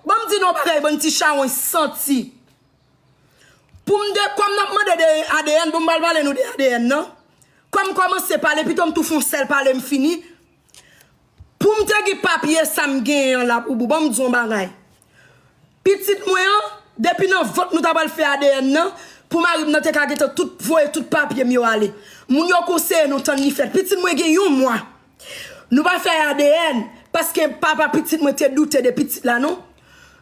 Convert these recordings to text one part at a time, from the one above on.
Banm di nou yon bagay bann ti chawony santi poum de kòm nap mande de adn poum bal pale nou de adn nan kòm kòmanse pale pitom tou fon sèl pale m fini poum te gen papye sam genyen an laboubou banm di yon bagay pitit mwen an depi nan vant nou ta pral fè adn nan pou marim nan te ka gentan tout voye tout papyem yo ale moun yo konseye nou tann li fèt pitit mwen gen yon mwa. Nou pa fè adn paske papa pitit mwen te doute de pitit la non.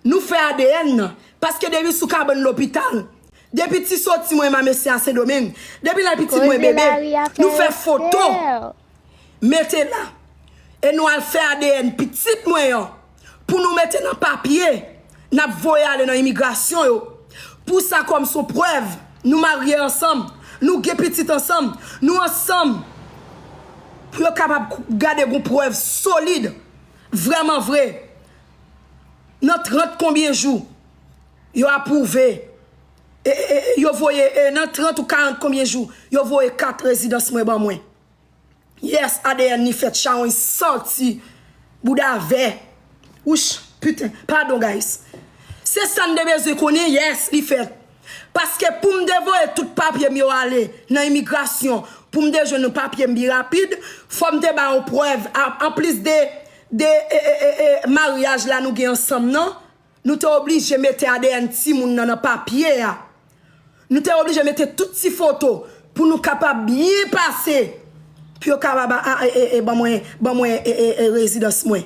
Nou fè adn nan paske depi sou kabann lopital, depi ti soti mwen ma mesye a sendomeng, depi lè pitit mwen bebe, nou fè foto mete la e nou al fè adn pitit mwen an. pou nou mete nan papye nap voye ale nan imigrasyon yo pou sa kòm son prèv nou marye ansanm nou gen pitit ansanm nou ansanm pou yo kapab gade gon prèv solid vrèman vre nan 30 konbyen jou yo apwouve yo voye nan 30 ou 40 konbyen jou yo voye kat rezidans mwen ban mwen. Yes adn li fèt chawony santi bouda vè wouch puten padon guys se sam te bezwen konnen yes li fèt paske poum te voye tout papyem yo ale nan imigrasyon poum te jwenn yon papyem pi rapid fòm te ba yon prèv anplis de de maryaj la nou gen ansanm nan. Nou te oblije mete adn timoun nan nan papye a. Nou te oblije mete tout ti foto pou nou kapab byen pase pou yo kapab ban mwen rezidans mwen.